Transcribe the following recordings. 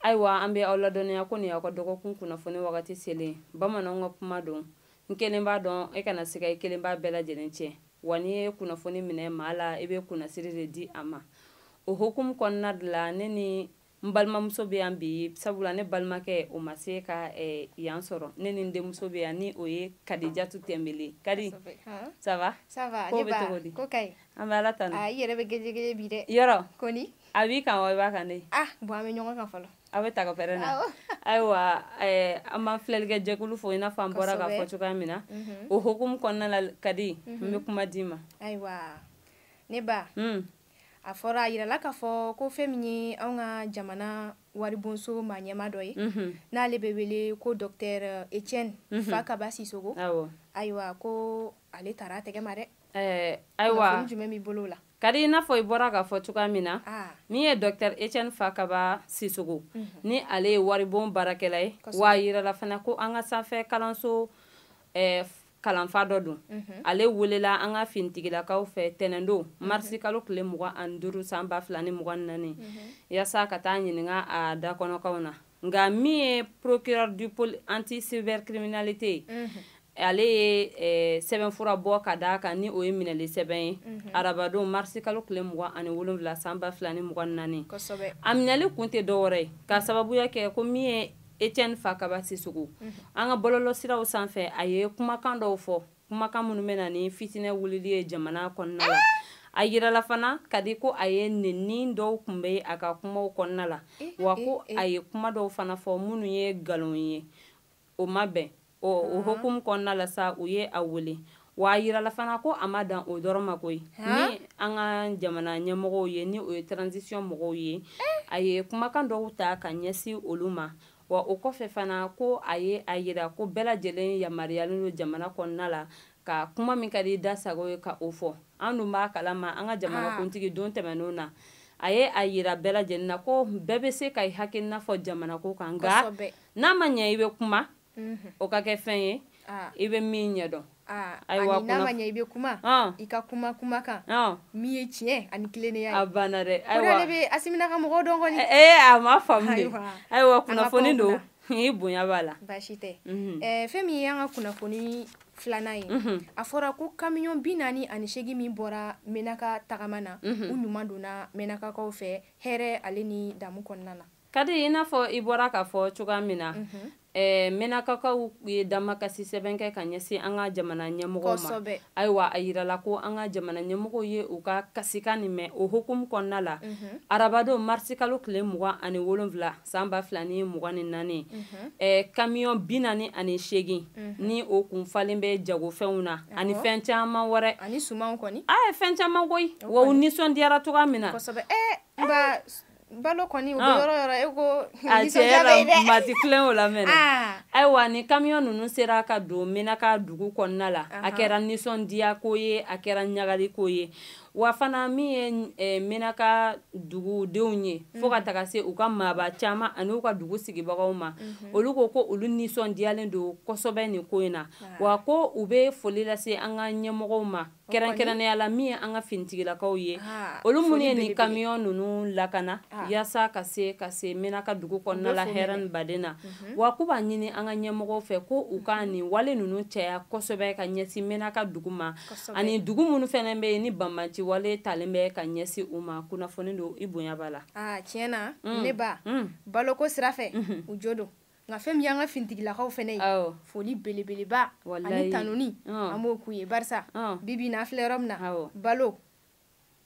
ayiwa an bɛ aw ladɔnniya ko nin y'aw ka dɔgɔkun kunnafoni wagati selen bamananw ka kuma don n kelen b'a dɔn e kana siga i kelen b'a bɛɛ lajɛlen tiɲɛ wa n'i ye kunnafoni minɛ maa la i bɛ kunnasiri de di a ma o hokumu kɔnɔna de la ne ni n balimamuso bɛ yan bi sabula ne balimakɛ o ma se ka eh, yan sɔrɔ ne ni n denmuso bɛ yan ni o ye kadijatu tɛnbele kadi ça va ko bɛ cogo di an bɛ ala tanu ah, yɔrɔ koni a b'i kan wa i b'a kan de ah bon an bɛ ɲɔgɔn kan fɔlɔ aw bɛ taga pɛrɛn na ayiwa eh, an b'an filɛlikɛ jɛkulu fo i n'a fɔ an bɔra k'a fɔ cogoya min na mhm. o hokumu kɔnɔna la kadi n mhm. bɛ kuma d'i ma ayiwa ne ba hmm. a fɔra a yirala k'a fɔ ko fɛn min ye anw ka jamana waribonso maa ɲɛma dɔ ye mhm. n'ale bɛ wele ko dɔktɛr etienne fakaba sisoko ayiwa ko ale taara a tɛgɛ ma dɛ eh, ayiwa kunnafoni jumɛn b'i bolo o la kadi i n'a fɔ i bɔra k'a fɔ cogoya min na ah. min ye dɔktɛr etiɛne fakaba sisoko mhm. ni ale ye waribon baarakɛla ye wa a yirala fana ko an ka sanfɛ kalanso eh, kalanfa dɔ don mhm. ale welela an ka finitigilakaw fɛ tɛnɛndon mhm. marisi kalo tile mugan ani duuru san ba fila ni mugan ni naani yaasa ka taa ɲininka a dakɔnɔkaw na nka min ye procureur du pôle anti cybercriminalité ye mm -hmm. ale ye eh, sɛbɛnfura bɔ ka d'a kan ni o ye minɛli sɛbɛn ye mm -hmm. arabadon marisi kalo tile mugan ani wolonwula san ba fila ni mugan ni naani a minɛli kun tɛ dɔwɛrɛ ye ka sababuya kɛ ko min ye etiɛne fakaba sisoko mm -hmm. an ka bɔlɔlɔsiraw sanfɛ a ye kumakan dɔw fɔ kumakan minnu bɛ na ni fitinɛ wulili ye jamana kɔnɔna la a yirala fana kadi ko a ye nenini dɔw kun bɛ a ka kumaw kɔnɔna la eh, wa ko eh, eh. a ye kuma dɔw fana fɔ minnu ye nkalon ye o ma bɛn o hukumu kɔnɔna la sa u ye a wele wa a yirala fana ko a ma dan o dɔrɔn ma koyi ni an ka jamana ɲɛmɔgɔw ye ni o ye transition mɔgɔw ye a ye kumakan dɔw ta ka ɲɛsin olu ma Wa o kɔfɛ fana ko a ye a yira ko bɛɛ lajɛlen yamaruyalen don jamana kɔnɔna la ka kuma min ka di da sago ye ka o fɔ an dun b'a kalama an ka jamanakuntigi don tɛmɛnenw na a ye a yira bɛɛ lajɛlen na ko bɛɛ bɛ se ka i hakilina fɔ jamanako kan nka n'a ma ɲɛ i bɛ kuma o ka kɛ fɛn ye i bɛ min ɲɛdɔn Ah, ayiwa ani n'a ma ɲɛ i bɛ kuma ah. i ka kuma kuma kan ah. min ye tiɲɛ ani tilennenya ye a banna dɛ ayiwa o de bɛ asimi n'a ka mɔgɔw dɔn kɔni ee eh, eh, a ma faamu de ayiwa kunnafoni don i bonya b'a la baasi tɛ mhm. eh, fɛn min ye an ka kunnafoni filanan ye mhm. a fɔra ko kamiyɔn bi naani ani seegin min bɔra menaka tagama na mhm. u ɲuman donna menakakaw fɛ hɛrɛ ale ni damu kɔnɔna na kadi i n'a fɔ i bɔra k'a fɔ cogoya min na mhm. eh, menakakaw ye damakasi sɛbɛn kɛ ka ɲɛsin an ka jamana ɲɛmɔgɔw ma ayiwa a yirala ko an ka jamana ɲɛmɔgɔw ye u ka kasikan nin mɛn o hokumu kɔnɔna la mhm. arabadon marisikalo tile mugan ani wolonfila san ba fila ni mugan ni naani mhm. eh, kamiyɔn bi naani ani seegin ni o kun falen bɛ jagofɛnw na ani fɛn caman wɛrɛ a ye fɛn caman koyi wa u nisɔndiyara cogoya min na eh, Balo kɔni ah. yɔrɔ yɔrɔ e ko mati o la mɛn ah. ayiwa ni kamiyɔn ninnu sera ka don menaka dugu kɔnɔna la a kɛra nisɔndiya ko ye a kɛra ɲagali ko ye wa fana min ye eh, menaka dugudenw ye fo ka mm. taga se u ka maaba caman ani u ka dugu sigibagaw ma mm-hmm. olu ko ko olu nisɔndiyalen don kosɛbɛ nin ko in na ah. wa ko u bɛ foli lase an ka ɲɛmɔgɔw ma kɛrɛnkɛrɛnnenya la min ye an ka finitigilakaw ye ah, olu minnu ye nin kamiyɔn ninnu lakana ah. yaasa ka se ka se menaka dugu kɔnɔna la hɛrɛ ni baden na mhm. wa k'u b'a ɲini an ka ɲɛmɔgɔw fɛ ko u ka mhm. nin wale ninnu caya kosɛbɛ ka ɲɛsin menaka dugu ma ani dugu minnu fɛnɛ bɛ yen ni banbanci wale talen bɛ ka ɲɛsin u ma kunnafoni don i bonya b'a la ah, tiɲɛ na mm. ne ba mm. baloko sira fɛ mhm. u jo don nka fɛn min y'an ka finitigilakaw fɛnɛ ye foli belebeleba ani tanuni an b'o k'u ye barisa bibi na filɛ yɔrɔ min na balo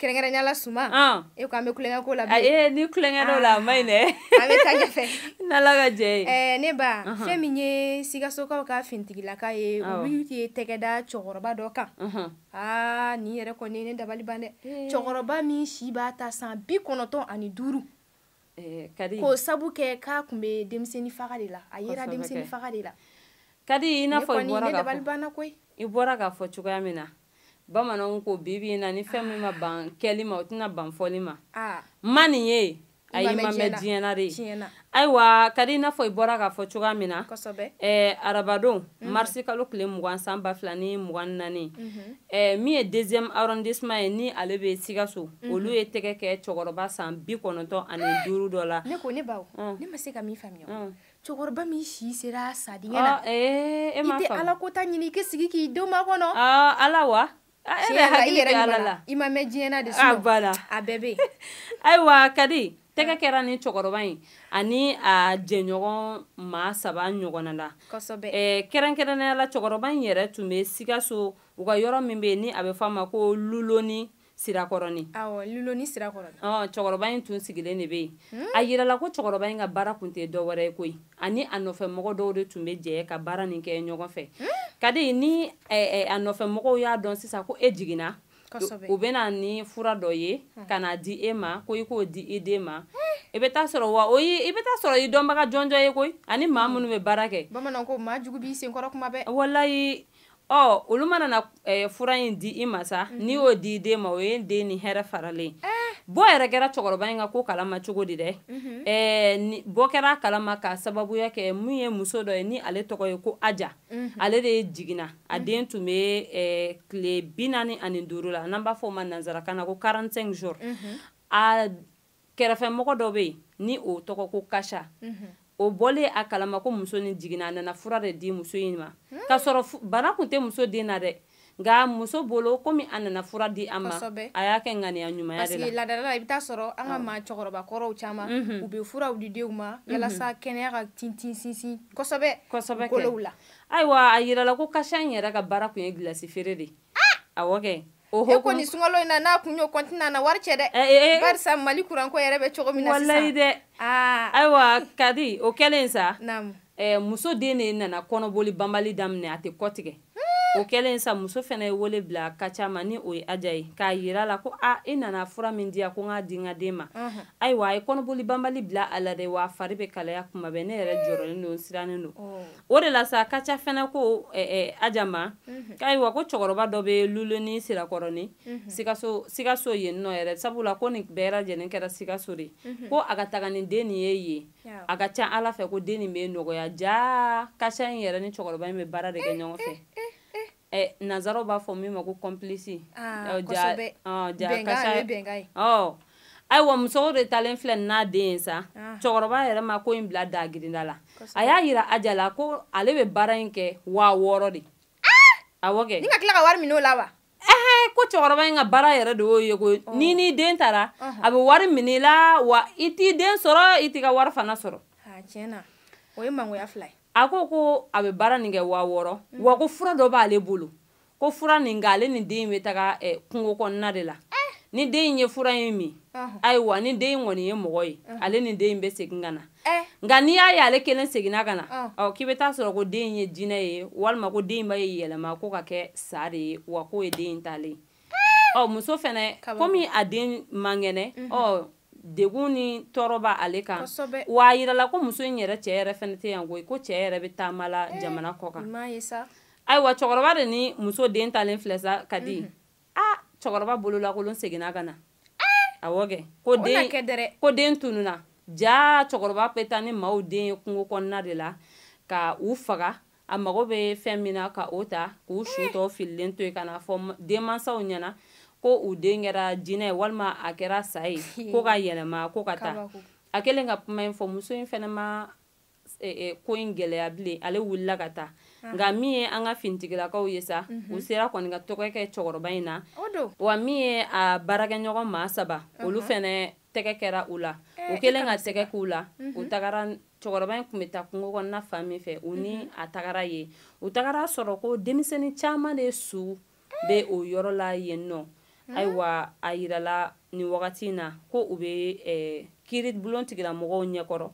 kɛrɛnkɛrɛnya la suman e ko an bɛ kulonkɛ ko la bi ee ni kulonkɛ dɔ la a ma ɲi dɛ an bɛ taa ɲɛfɛ n'ala ka jɛ ye ɛɛ ne ba fɛn min ye sikasokaw ka finitigilaka ye olu ye tɛgɛ da cɛkɔrɔba dɔ kan aa nin yɛrɛ kɔni ye ne dabali ban dɛ cɛkɔrɔba min si bɛ taa san bi kɔnɔntɔn ani duuru eh, kadi k'o sabu kɛ k'a tun bɛ denmisɛnnin faga de la a yera denmisɛnnin faga de la kadi i n'a fɔ i bɔra k'a fɔ i bɔra k'a fɔ cogoya min na bamananw ko bibi in na ni fɛn min ma ban kɛli ma o tɛna ban fɔli ma ah. ma nin ye a y'i ma mɛn diɲɛ na de ayiwa kadi i n'a fɔ i bɔra k'a fɔ cogoya min na arabadon Mhm. marisi kalo tile mugan san ba fila ni mugan naani mhm. eh, min ye deuxième arrondissement ye ni ale bɛ sikaso mhm. olu ye tɛgɛ kɛ cɛkɔrɔba san bi kɔnɔntɔn ani eh! duuru dɔ la ne ko ne baw ne ma se ka min faamuya cɛkɔrɔba min si sera a sa dingɛ na eh, i tɛ ala ko ta ɲini i k'i sigi k'i denw makɔnɔ ala wa ayiwa kadi tɛgɛ kɛra nin cɛkɔrɔba in ani a jɛɲɔgɔn maa saba ɲɔgɔnna la kɛrɛnkɛrɛnnenya la cɛkɔrɔba in yɛrɛ tun bɛ sikaso u ka yɔrɔ min bɛ yen ni a bɛ f'a ma ko luloni sirakɔrɔnin cɛkɔrɔba in tun sigilen de bɛ yen a yirala ko cɛkɔrɔba in ka baara tun tɛ dɔwɛrɛ ye koyi ani a nɔfɛ mɔgɔ dɔw de tun bɛ jɛ ka baara nin kɛ ɲɔgɔn fɛ kadi ni a nɔfɛ mɔgɔw y'a dɔn sisan ko e jiginna u bɛ na ni fura dɔ ye ka n'a di i ma ko i k'o di i den ma i bɛ taa sɔrɔ wa i bɛ taa sɔrɔ i dɔnbaga jɔnjɔn ye koyi ani maa minnu bɛ baara kɛ bamanan ko maa jugu b'i sen kɔrɔ kuma bɛɛ wala ɔ olu mana na eh, fura in di i ma sa n'i y'o di i den ma o ye den ni hɛrɛ faralen eh. bɔ yɛrɛ kɛra cɛkɔrɔba in ka ko kalama cogo di dɛ mhm. eh, bɔ kɛra kalama ka sababuya kɛ mun ye muso dɔ ye ni ale tɔgɔ ye ko aja mhm. ale de ye jiginna a mhm. den tun bɛ tile bi naani ani duuru la n'an b'a fɔ o ma nanzarakan na ko 45 jours a kɛrɛfɛmɔgɔ dɔ bɛ yen ni o tɔgɔ ko kasha mhm. o bɔlen a kalama ko muso nin jiginna a nana fura de di muso in ma hmm. k'a sɔrɔ bana tun tɛ muso den na dɛ nka muso bolo komi a nana fura di a ma a y'a kɛ ŋaniya ɲumanya de la parce que ladala la i bɛ taa sɔrɔ an ka maa cɛkɔrɔba kɔrɔw caman mhm. u bɛ furaw di denw ma mhm. yalasa kɛnɛya ka tintin sinsin kosɛbɛ kosɛbɛ kolow la ayiwa a yirala ko kasha in yɛrɛ ka baara tun ye gilasi feere de ye Awɔ kɛ o kɔni sunkalo in na n'a tun y'o kɔntine a na wari cɛ dɛ barisa mali kuranko yɛrɛ bɛ cogo min na walayi dɛ ayiwa kadi o kɛlen sa muso den de nana kɔnɔboli banbali daminɛ a tɛ kɔtigɛ o kɛlen sa muso fɛnɛ ye wele bila kasha ma ni o ye aja ye k'a yira a la ko aaa i nana fura min di yan ko n k'a di n ka den ma ayiwa a ye kɔnɔboli banbali bila a la dɛ wa fari bɛ kalaya kuma bɛɛ ne yɛrɛ jɔrɔlen don sirannen don o de la sa kasha fɛnɛ ko eh, eh, aja ma mhm. ayiwa ko cɛkɔrɔba dɔ bɛ luloni sirakɔrɔni mhm. sikaso sikaso yen nɔ yɛrɛ sabula ko nin bɛɛ lajɛlen kɛra sikaso de mhm. ko a ka taga ni den nin ye yen a ka ca ala fɛ ko den nin bɛ nɔgɔya jaa kasha in yɛrɛ ni cɛkɔrɔba in bɛ baara de kɛ ɲɔgɔn fɛ Eh, nanzaraw b'a fɔ min ma ko complice ah, ah, oh. ayiwa muso de taalen filɛ n'a den ye sa ah. cɛkɔrɔba yɛrɛ ma ko in bila dagirinda la a y'a yira aja la ko ale bɛ baara in kɛ waa wɔɔrɔ de awɔ kɛ ni ka tila ka wari minɛ o la wa ɛhɛ ko cɛkɔrɔba in ka baara yɛrɛ de y'o ye ko oh. ni ni den taara uh-huh. a bɛ wari minɛ i la wa i t'i den sɔrɔ i t'i ka wari fana sɔrɔ tiɲɛ na o ye mangoya fila ye a ko ko a bɛ baara nin kɛ waa wɔɔrɔ mm. wa ko fura dɔ b'ale bolo ko fura nin k'ale ni den in bɛ taga eh, kungo kɔnɔna de la eh. ni den in ye fura in min ayiwa ni den in kɔni ye mɔgɔ ye ale ni den in bɛ segin ka na eh. nka n'i y'a ye ale kelen seginna ka na ɔ k'i bɛ taa sɔrɔ ko den in ye jinɛ ye walima ko den in b'a yɛrɛ yɛlɛma ko ka kɛ sa de ye wa k'o ye den in taalen ye ɔ muso fana komi a den man kɛnɛ mhm. ɔ degun ni tɔɔrɔ b'a ale kan wa a yirala ko muso in yɛrɛ cɛ yɛrɛ fana tɛ yan koyi ko cɛ yɛrɛ bɛ taama la eh, jamana kɔ kan ayiwa cɛkɔrɔba de ni muso den talen filɛ sa kadi mhm. a ah, cɛkɔrɔba bololakolon seginna ka na eh! awɔ kɛ ko den ko den tununa jaa cɛkɔrɔba bɛ taa ni maaw den ye kungo kɔnɔna de la ka u faga a mago bɛ fɛn min na ka o ta k'u su tɔ fililen to yen ka na fɔ denmansaw ɲɛna ko u den kɛra jinɛ ye walima a kɛra sa ye ko ka yɛlɛma ko ka taa a kɛlen ka kuma in fɔ muso in fana ma e, e, ko in gɛlɛya bilen ale wulila ka taa ah. nka min ye an ka finitigilakaw ye sa mhm. u sera kɔni ka tɛgɛ kɛ cɛkɔrɔba in na wa min ye a baarakɛɲɔgɔn maa saba olu fana tɛgɛ kɛra u la eh, u kɛlen ka tɛgɛ k'u la u mhm. tagara cɛkɔrɔba in tun bɛ taa kungo kɔnɔna fan min fɛ u ni mhm. a tagara yen u tagara sɔrɔ ko denmisɛnnin caman de su bɛ o yɔrɔ la yen nɔ mhm. ayiwa a yirala nin wagati in na ko u bɛ eh, kiribulon tigilamɔgɔw ɲɛkɔrɔ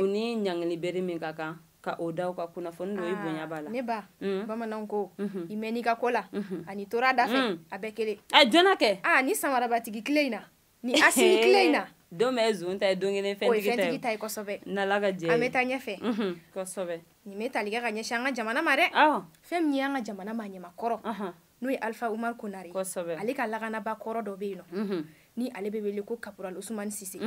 u ni ɲangili bere min ka kan ka o da u kan kunnafoni dɔ i ah, bonya b'a la ne ba mm. bamananw ko mm-hmm. i mɛn n'i ka ko la mm-hmm. ani tora da fɛ mm. a bɛɛ kelen a jɔna kɛ a ah, ni samarabatigi tile in na ni asimi tile in na don bɛɛ zon ta ye don kelen fɛntigi ta ye kosɛbɛ n'ala ka jɛ an bɛ taa ɲɛfɛ kosɛbɛ nin bɛ tali kɛ ka ɲɛsin an ka jamana ma dɛ fɛn min ye an ka jamana maaɲɛma kɔrɔ n'o ye alifa umaru konare ale ka lakanaba kɔrɔ dɔ bɛ yen nɔ ni ale bɛ wele ko kapural usumani sise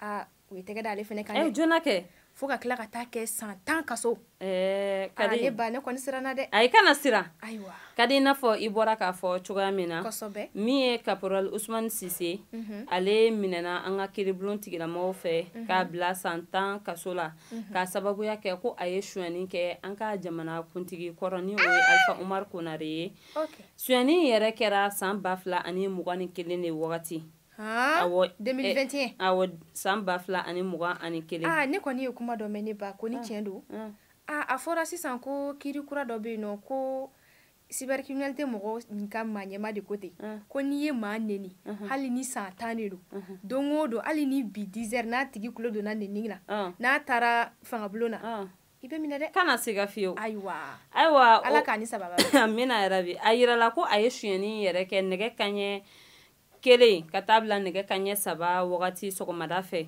aa u ye tɛgɛ da ale fana kan dɛ. jona kɛ fo ka tila ka taa kɛ san tan kaso eh, kadi ne ba ne kɔni siranna dɛ ayi kana siran ayiwa kadi i n'a fɔ i bɔra k'a fɔ cogoya min na kosɛbɛ min ye caporal usmane sise mm -hmm. ale minɛna an ka kiribulon tigilamɔgɔw fɛ mm -hmm. k'a bila san tan kaso la mm -hmm. k'a sababuya kɛ ko a ye suyani kɛ an ka jamana kuntigi kɔrɔ ni o ye alfa umar konare ye okay. suyani yɛrɛ kɛra san ba fila ani mugan ni kelen de wagati 2021 awɔ san ba fila ani mugan ani kelen ah, ne kɔni ye kuma dɔ mɛn ne ba ko ni ah, tiɲɛ don ah. a fɔra sisan ko kiri kura dɔ bɛ yen nɔ ko cybercriminalité mɔgɔ ka maaɲɛma de ko ten ko n'i ye maa neni hali ni san tan de don don o don hali ni bi 10 heures n'a tigi tulo donna neni na n'a taara fangabulon na i bɛ minɛ dɛ kana siga fiyewu ayiwa ayiwa ala k'a ni sababa amina yarabi a yirala ko a ye sonyɛni yɛrɛ kɛ nɛgɛ kanɲɛ kelen ka taa bila nɛgɛ kanɲɛ saba wagati sɔgɔmada fɛ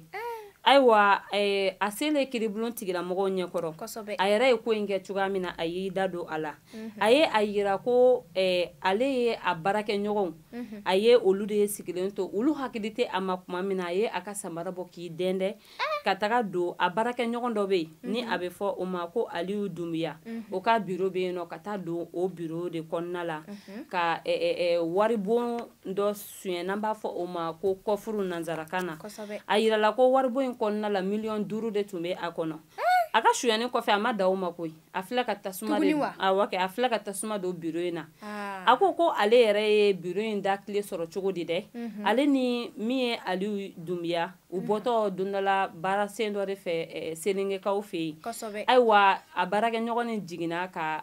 ayiwa eh, a selen kiribulon tigilamɔgɔw ɲɛkɔrɔ a yɛrɛ ye ko in kɛ cogoya min na a y'i da don a la mhm. a ye a yira ko eh, ale ye a baarakɛɲɔgɔnw mhm. a ye olu de ye sigilen to olu hakili tɛ a ma kuma min na a ye a ka samara bɔ k'i dɛndɛ ka taga don a baarakɛɲɔgɔn dɔ bɛ yen ni a bɛ fɔ o ma ko aliyu dunbiya o ka biro bɛ yen nɔ ka taa don o biro de kɔnɔna la ka waribon dɔ sonya n'an b'a fɔ o ma ko kɔfuru nansarakan na a jirala ko waribon in kɔnɔna la miliyɔn duuru de tun bɛ a kɔnɔ a ka sonyani kɔfɛ a ma dan o ma koyi a tila ka tasuma a tila ka tasuma don biro in na a ko ko ale yɛrɛ ye biro in da kile sɔrɔ cogo di dɛ ale ni min ye aliyu dunbiya u bɔtɔ don dɔ la baara sen dɔ de fɛ eh, selenkɛkaw fɛ yen ayiwa a baarakɛɲɔgɔn nin jiginna ka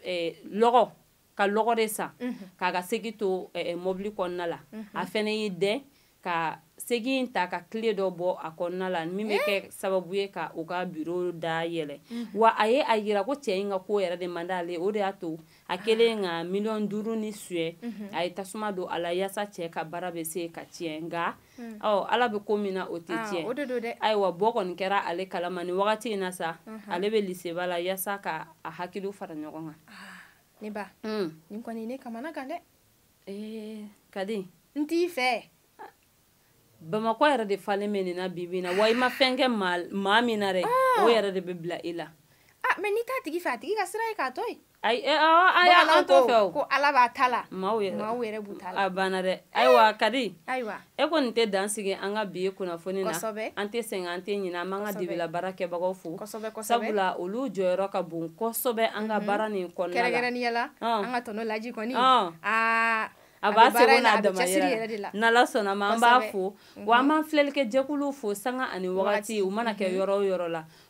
eh, lɔgɔ ka lɔgɔ de san mhm. k'a ka segi to eh, mɔbili kɔnɔna la mhm. a fɛnɛ y'i dɛn ka segi in ta ka kile dɔ bɔ a kɔnɔna la min bɛ kɛ sababu ye ka u ka biro da yɛlɛ mhm. wa a ye a yira ko cɛ in ka ko yɛrɛ de man d'ale o de y'a to a kɛlen ka miliyɔn duuru nin suɲɛ a ye tasuma don a la yaasa cɛ ka baara bɛ se ka tiɲɛ nka Hmm. ɔ ala bɛ ko min na o tɛ ah, tiɲɛ ayiwa bɔ kɔni kɛra ale kalama nin wagati in na sa uh-huh. ale bɛ liseba la yaasa ka a hakiliw fara ɲɔgɔn kan ah, ne ba hmm. nin kɔni ne kamanagan dɛ eh, kadi n t'i fɛ bamakɔ yɛrɛ de falen bɛ nin na bi bi na wa i ma fɛn kɛ maa min na dɛ ah. o yɛrɛ de bɛ bila i la mɛ n'i t'a tigi fɛ a tigi ka sira ye k'a to yen Ayi e awɔ a y'a an t'o fɛ o ko Ala b'a ta la maaw yɛrɛ maaw yɛrɛ b'u ta la a banna dɛ ayiwa Kadi ayiwa e kɔni tɛ dan sigi an ka bi kunnafoni na kosɛbɛ an tɛ sɛgɛn an tɛ ɲinɛ an b'an ka dibi la baarakɛbagaw fo kosɛbɛ kosɛbɛ sabula olu jɔyɔrɔ ka bon kosɛbɛ an ka baara nin kɔnɔna la kɛrɛnkɛrɛnnenya la an ka tɔnɔ Laji kɔni aa a b'a seko n'a damayira la n'Ala sɔnna ma an b'a fo wa an b'an filɛlikɛ jɛkuluw fo sanga ani wagati u mana kɛ yɔrɔ o yɔrɔ la